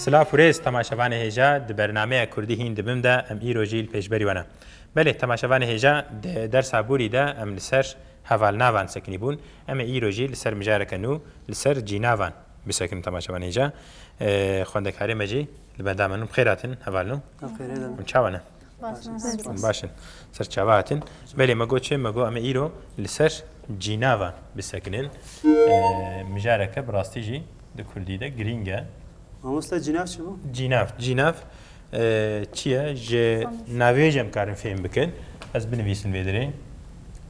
Silav û rêz temaşevanê hêja di bernameya Kurdî hîn dibim de em îro jî li pêşberî we ne. Belê temaşevanê hêja di dersa borî de em li ser Hevalnavan sekinîbûn, em ê îro jî li ser mijareke nû li ser cînavan bisekin tama çavan hêja xwendekarê me jî li benda min in. Bi xêr hatin heval nû. Em çawa ne? Em baş in. Ser çava hatin. Belê me got çi? Me got em ê îro li ser cînavan bisekinin. Mijareke bi rastî jî di kurdî de girîng e. Mamosta cînav çi bû? Cînav, cînav. Çi ye ji navê jî em karin fêm bikin. Ez binivîsin vê dirê.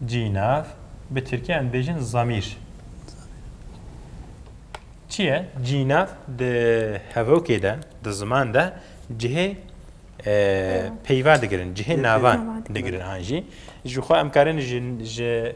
Cî nav bi tirkî em bêjin zamîr. Çi ye cî nav di hevokê de di ziman de cihê peyva digirin cihê navan digirin an jî ji xwe em karin ji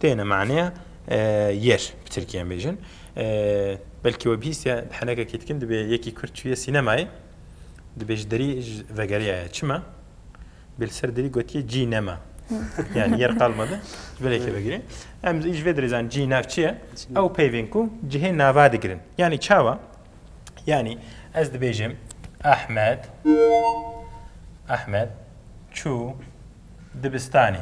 Têne maneya yer bi tirkî em bêjin. Belkî we bihîstiye di henekekî dikin dibê yekî kurd çûye sînemayê dibê ji derî vegeriyaye. Çima? Dibê li ser derî gotiye cî nema. Yani yer kalmadı. Böyle ki begiri. Em iş ve direzan cî nav çi ye? Ew peyvên ku cihê nava digirin. Yani çawa? Yani ez dibêjim Ahmet Ahmet çû dibistanê.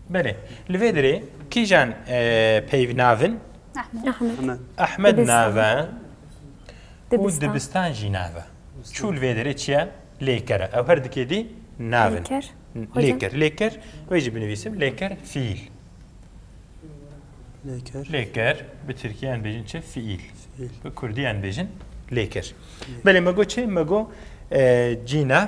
Belê. Li vê dirê kîjan e, peyv navin? Ahmed nave û dibistan jî nave. Çû li vê dirê çiye? Lêkere. Ew her dikê dî navin. Lêker. Lêker. Wê jî binivîsim. Lêker fiil. Lêker. Lêker. Bi Tirkiyan bêjin çi? Fiil. Bi Kurdiyan bêjin lêker. Belê me got çi? Me got e, cînav.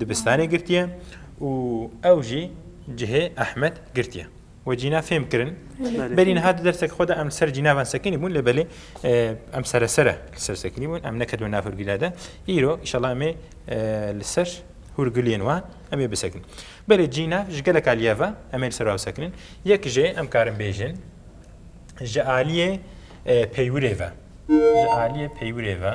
Dibistanê girtiye û ew jî cihê Ehmed girtiye. We cîna fêm kirin. Berî niha di dersek xwe de em ser cînavan sekinî bûn lê belê em seresere li ser sekinî bûn em nekedin nav hurgîla de. Îro îşallah em ê li ser hurgiliyên wan em ê bisekin. Belê cîna ji gelek aliye ve em ê li ser wan bisekinin. Yek jê em karin bêjin ji aliyê peywirê ve. Ji aliyê peywirê ve.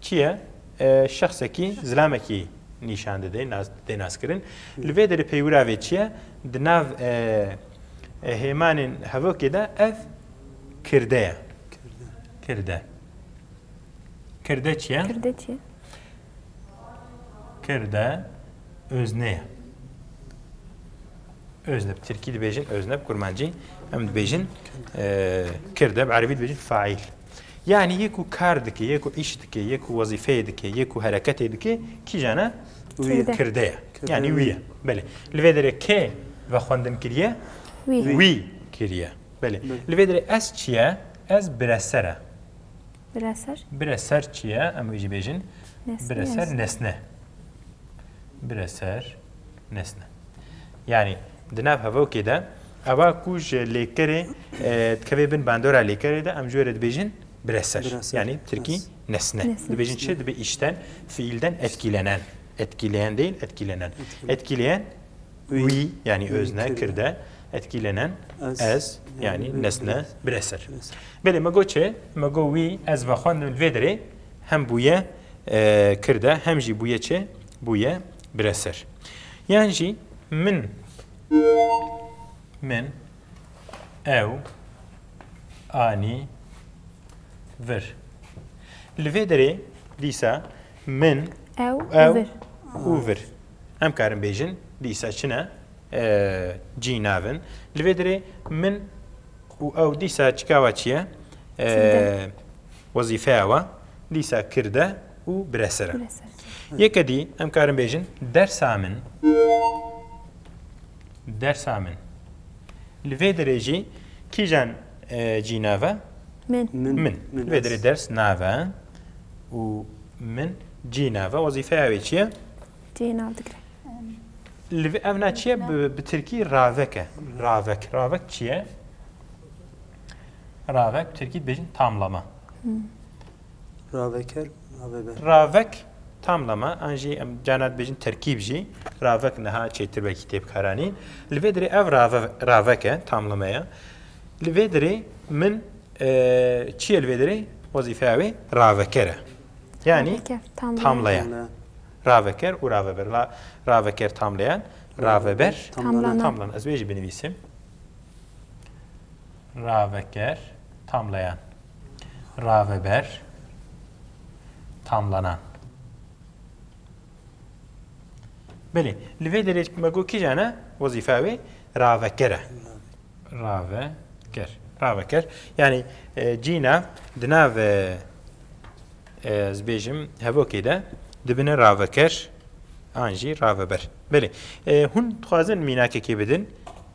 Kî ye? Şexsekî, zilamekî nîşan dide, tê naskirin. Li vê derê peywira vê çi ye? Di nav hêmanên hevokê de ev kirde ye. Kirde. Kirde çi ye? Kirde çi ye? Kirde özne ye. Özne. Bi Tirkî dibêjin özne, bi Kurmancî em dibêjin kirde, bi Erebî dibêjin faîl. Yanî yê ku kar dike, yê ku îş dike, yê ku wezîfeyê dike, yê ku hereketê dike kîjan e? Kirde ye. Yanî wî ye. Belê. Li vê derê kê vexwendin kiriye? Wî kiriye. Belê. Li vê derê ez çi ye? Ez bireser e. Bireser? Bireser çi ye? Em wî jî bêjin. Bireser nesne. Bireser. Nesne. Yani di nav hevokê de eva ku ji lêkerê dikevê bin bandora lêkerê de em ji wê re dibêjin bireser. Yani tirkî nesne. Dibêjin çi dibê îşten fiîlden etkîlenen. Etkîleyen değil etkîlenen. Etkîleyen wî yani özne kirde etkîlenen ez yani nesne bireser. Belê me got çi? Me got wî ez vexwendim li vê derê hem bûye kirde hem jî bûye çi? Bûye Bire ser. Yan jî min, min, ew, anî, vir. Li vê derê dîsa min, Ew, ew vir. û vir. Em karin bêjin dîsa çi ne? Cî nav in. Li vê derê min û ew dîsa çikawa çi ye? Çi dide? Wezîfeya we. Lîsa kird e û bireser e. Yeke dî em karin bêjin dersa min dersa min. Li vê derê jî kîjan cî nave? Min. Min. Li vê derê ders nave û min cî nave. Wezîfeya wê çi ye? Cî nav digire. Li vê ev na çi ye? Bi tirkî ravek e. Ravek. Ravek çi ye? Ravek bi tirkî dibêjin tamlama. Ravek her ravebe. Ravek tamlama an jî em cana dibêjin terkîb jî ravek niha çêtir wekî tê bikaranîn. Li vê dirê ev ravek e tamlama ye. Li vê dirê min çi ye li vê dirê wezîfeya wê raveker e. Yanî tamleyan. Raveker û raveber. Raveker tamleyan, raveber tamlan. Ez wê jî binivîsim. Raveker, tamlayan. Raveber, tamlanan. Belê, li vê derê me got kîjan e wezîfa wê? Raveker e. Raveker. Raveker. Yanî e, cîna di nav e, e, ez bêjim hevokê de dibine raveker an jî raveber. Belê. E, hûn dixwazin mînakekê bidin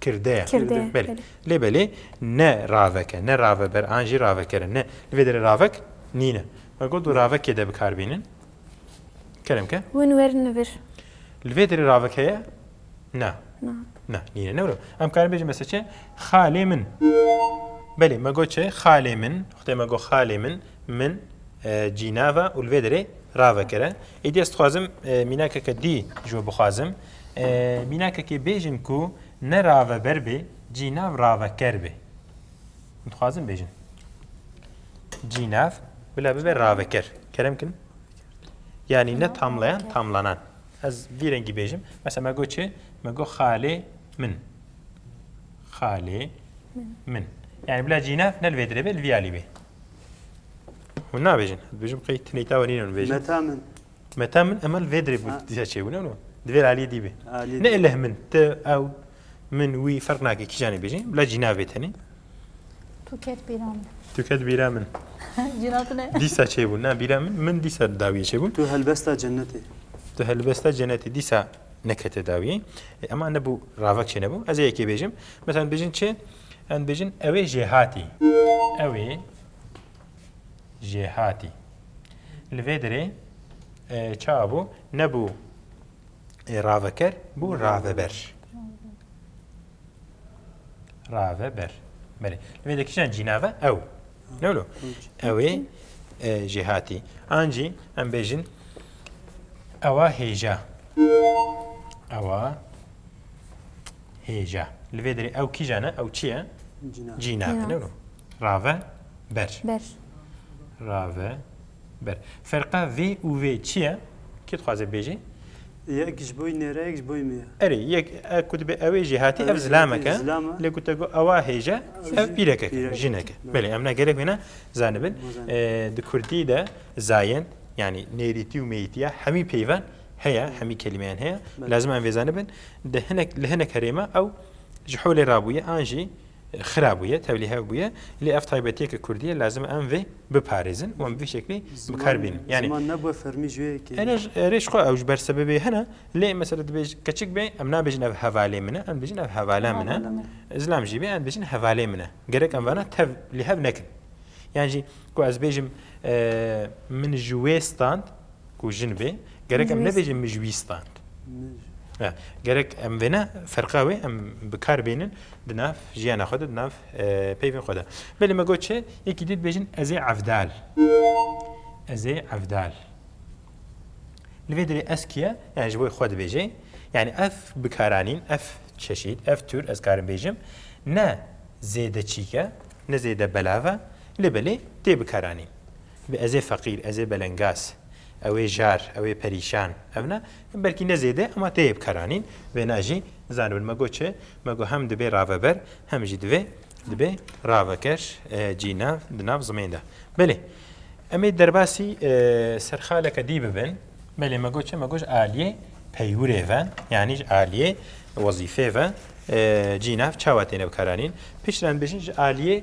Kirde. Kirde. Belê. Lê belê ne raveke, ne raveber an jî ravekere ne. Li vê derê ravek nîne. Me got du ravekê de bikar bînin. Kerem ke? Hûn werin li vir. Li vê derê ravek heye? Na. Na. Na, nîne. Ne wilo. Em karin bêjin mesela çi? Xalê min. Belê, me got çi? Xalê min. Xwedê me got xalê min. Min cînava û li vê derê ravekere. Êdî ez dixwazim mînakeke dî ji we bixwazim. Mînakekê bêjin ku ne raveber bê cînav raveker bê. Min dixwazin bêjin. Cînav bila bibe raveker. Kerem kin? Yani ne tamlayan tamlanan. Ez vî rengî bêjim. Mesela me got çi? Me got xalê min. Xalê min. Yani bila cînav ne li vê dirê bê li vî alî bê. Hûn nabêjin. Dibêjim qey tileyta wenînin bêjin. Meta min. Meta min emel vê dirê bû dîsa çêbû ne no. Divê li aliyê dî bê. Ne eleh min, tu, ew, min, wî ferq nake kîjan ê bêjin. Bila cîna bê tenê. Tu ket bîra min. Tu ket bîra min. Cîna tu ne. Dîsa çêbû na bîra min, min dîsa dawiyê çêbû. Tu helbesta cenetê. Tu helbesta cenetê dîsa nekete dawiyê. E, ema ne bû ravek çê nebû. Ez ê yekê bêjim. Mesela bêjin çi? Em bêjin ew ê jêhatî. Ew ê jêhatî. Li vê derê çawa bû? Nebû raveker, bû raveber. Raveber. Belê. Li vê de kîjan cînave ew. Ne wilo? Ewê jêhatî. An jî em bêjin ewa hêja. Ewa hêja. Li vê derê ew kîjan e? Ew çi ye? Cînave. Ne wilo? Rave ber. Ber. Rave ber. Ferqa vê û vê çi ye? Kê dixwaze bêjê? Yek ji boî nêre yek ji boî me ye. Erê yek e ku dibe ewê jî hatî ev zilamek e. Lê ku te got ewa hêje ev pîrekek e, jinek e. Belê em ne gelek wê ne zanibin. Di kurdî de zayin yanî nêrîtî û mêyîtiya hemî peyvan heye, hemî kelîmeyan heye. Lazim e em vê zanibin. Di hinek li hinek herêma ew ji holê rabûye an jî xira bûye, tevlî hev bûye, lê ev taybetiyeke kurdî ye, lazim e em vê biparêzin û em bi vî şeklî bi kar bînin. Yanî Ziman nebûye fermî ji wê yekê ye. Erê ji xwe ew ji ber sebebê hene, lê mesela dibêj keçik bê em nabêjin ev hevalê min e, em dibêjin ev hevala min e, zilam jî bê em dibêjin hevalê min e. Gerek em vana tev lî hev nekin. Yan jî ku ez bêjim min ji wê stand, Ku jin bê, gerek em nebêjin mijwîstan. Gerek em vêne ferqa wê em bi kar bênin di nav jiyana xwe de, di nav peyvên xwe de. Belê me got çi, yekî dî dibêjin ez ê evdal. Ez ê evdal. Li vê dirê ez kî ye? Yani ji bo xwe dibêjê. Yani ev bikaranîn, ev çeşîd, ev tür ez karim bêjim ne zêde çîk e, ne zêde belav e, lê belê tê bikaranîn. Bi ez ê feqîr, ez ê belengaz, ew ê jar, ew ê perîşan, ev ne, belkî ne zêde ema tê yê bikaranîn, wêna jî zanibin. Me got çi? Me got hem dibê raveber hem jî divê dibê raveker cî nav di nav zimên de. Belê em ê derbasî serxaleke dî bibin. Belê me got çi? Me got aliyê peywirê ve yanî ji aliyê wezîfê ve cî nav çawa têne bikaranîn. Piştre em dibêjin ji aliyê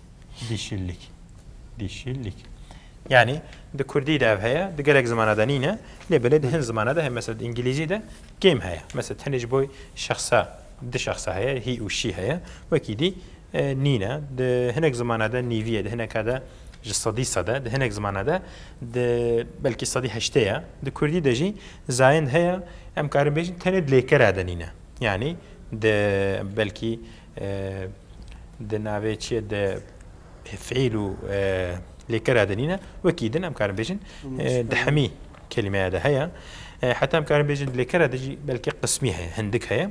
Dişillik. Dişillik. Yani di Kurdî de ev heye, di gelek zimana de nîne, lê belê di hin zimana de heye. Mesela di Îngilîzî de game heye. Mesela tenê ji bo şexsa, di şexsa heye, he û she heye. Wekî dî nîne. Di hinek zimana de nîvî ye, di hineka de ji sedî sed e, di hinek zimana de di belkî sedî heştê ye. Di Kurdî de jî zayend heye, em karin bêjin tenê di lêkera de nîne. Yani di belkî Di navê çiyê di fiîl û lêkera de nîne wekî din em karin bêjin di hemî kelimeya de heye. Heta em karin bêjin di lêkera de jî belkî qismî heye hindik heye.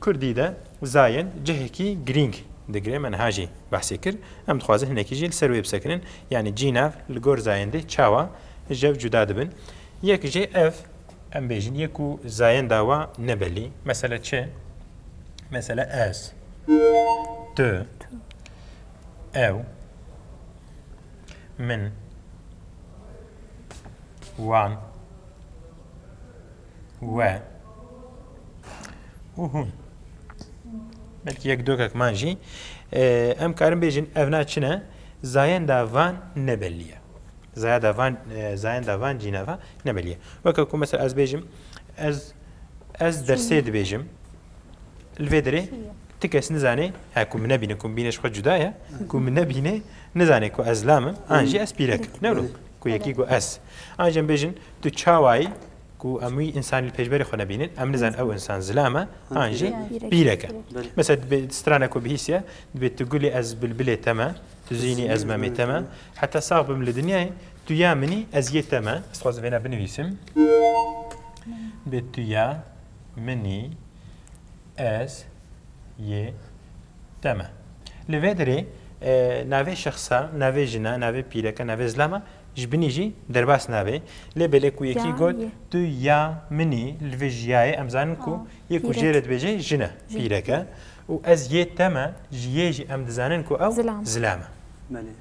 Kurdî de zayen cihekî girîng digire me niha jî behsê kir. Em dixwazin hinekî jî li ser wê bisekinin yanî cînav li gor zayendê çawa jev cuda dibin. Yek jê ev Em bêjin yê ku zayên dawa ne belî. Mesele çi? Mesele ez, tu, ew, min, wan, we û hûn. Belkî yek dokek man jî em karin bêjin ev na çi ne? Zayên davan ne belî ye. Zayenda van zayenda van cîna ve ne belî ye. Weke ku mesela ez bêjim ez ez dersê dibêjim li vê derê ti kes nizanê he ku min nebîne ku min bînê ji xwe cuda ye ku min nebînê nizanê ku ez lam im an jî ez pîrek im ne wilo ku yekî ku ez an jî em bêjin tu çawayî ku em wî însanî li pêşberî xwe nebînin em nizan ew însan zilam e an jî pîrek e. Mesela di bê di strana ku bihîstiye dibê tu gulê ez bilbilê te me Tu zînî ez memê te me. Heta sax bim li dinyayê tu ya minî ez yê te me. Ez dixwazim vêna binivîsim. Bê tu ya minî ez yê te me. Li vê derê navê şexsa, navê jina, navê pîreke, navê zilama ji binî jî derbas nabe. Lê belê ku yekî got tu ya minî li vê jiyayê em zanin ku Yê ku jê re dibêje jin e, pîrek e û ez yê te me ji yê jî em dizanin ku ew zilam e. Belê.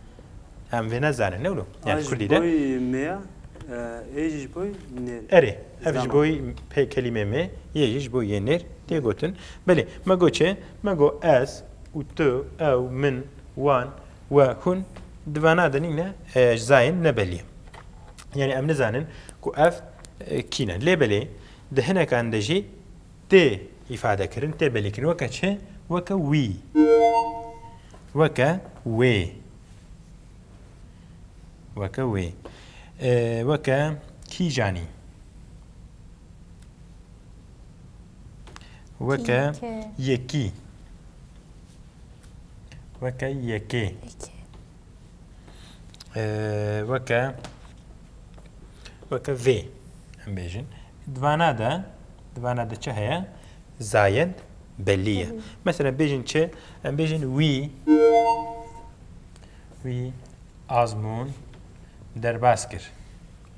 Em vê nezanin ne wilo. Yani Kurdî de. Boy mê ya, ê jî ji boy nêr. Erê, ev ji boy pê kelîmê mê, yê jî ji boy yê nêr tê gotin. Belê, me got çi? Me got ez û tu, ew, min, wan, we, hûn di vana de nîne ji zayên nebelî. Yani em nizanin ku ev kî ne. Lê belê, Di hinekan de jî tê îfadekirin, tê belêkirin weke çi? Weke wî, weke wê, weke wê, weke kîjanî, weke yekî, weke yekê. weke weke vê em bêjin divana de divana de çi heye zayed belî ye mesela bêjin çi em bêjin wî wî azmûn derbas kir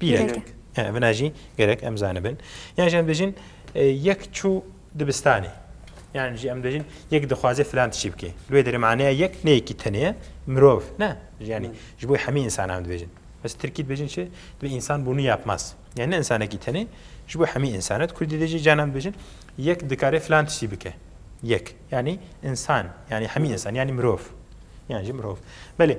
Pîrek. Vina jî gerek em zanibin. Yan jî em dibêjin yek çû dibistanê. Yan jî em dibêjin yek dixwaze filan tişî bike. Li wê derê maneya yek ne yekî tenê ye mirov ne yanî ji bo hemî însanan dibêjin. Ez tirkî dibêjin çi dibê însan bûnû yapmaz. Yani ne însanekî tenê ji bo hemî însan e. Kurdî de jî canan dibêjin yek dikare filan tişî bike. Yek yanî însan yanî hemî însan yanî mirov. Yan jî mirov. Belê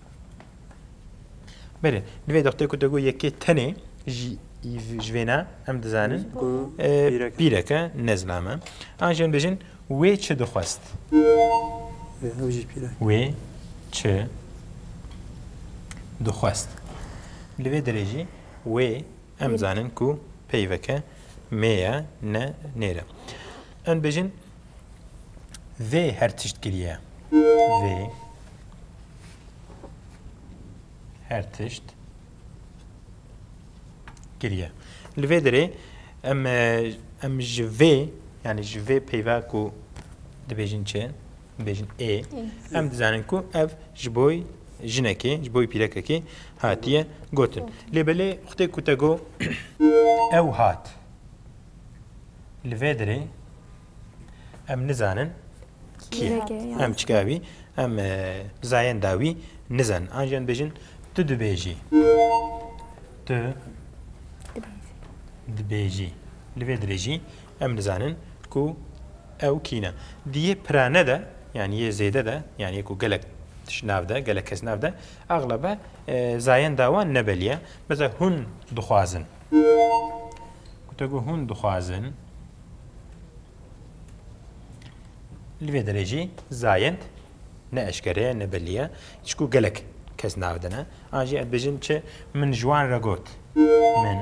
Belê, di vê dixtê ku te got yekê tenê jî ji vê ne em dizanin pîreke nezlam e. An jî em bêjin wê çi dixwest? Wê çi dixwest? Li vê derê jî wê em zanin ku peyveke mê ye ne nêre. Em bêjin Vê her tişt kiriye. Vê her tişt kiriye. Li vê derê em em ji vê yani ji vê peyva ku dibêjin çi dibêjin ê em dizanin ku ev ji boy jinekê ji boy pîrekekê hatiye gotin. Lê belê xutê ku te got ew hat. Li vê derê em nizanin kî ye. Em çika wî em zayenda wî nizanin. An jî em dibêjin tu dibêjî. Tu dibêjî. Li vê derê jî em nizanin ku ew kî ne. Di yê pirane de yanî yê zêde de yanî ku gelek tişt nav de, gelek kes nav de exlebe zayenda wan nebelî ye. Mesela hûn dixwazin. Gotego hûn dixwazin li vê derê jî zayend ne eşkere ye ne belî ye çku gelek kes nav dine an jî ev bijin çi min ji wan re got min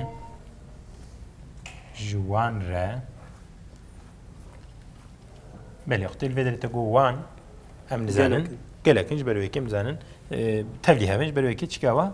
ji wan re belê xwe tê li vê derê te got wan em nizanin gelek in ji ber wê yekê em nizanin tevlî hevin ji ber wê yekê çigawa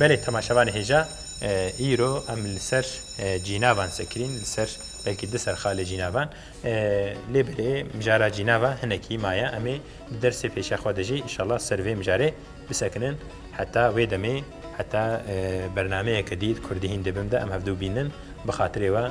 Belê temaşevanê hêja, îro em li ser cînavan sekirîn, li ser belkî di ser xalê cînavan. Lê belê mijara cînava hinekî maye em ê di dersê pêşiya xwe de jî inşallah ser vê mijarê bisekinin. Heta wê demê heta bernameyeke dî di Kurdî hîn dê bim de em hevdu bînin bi xatirê we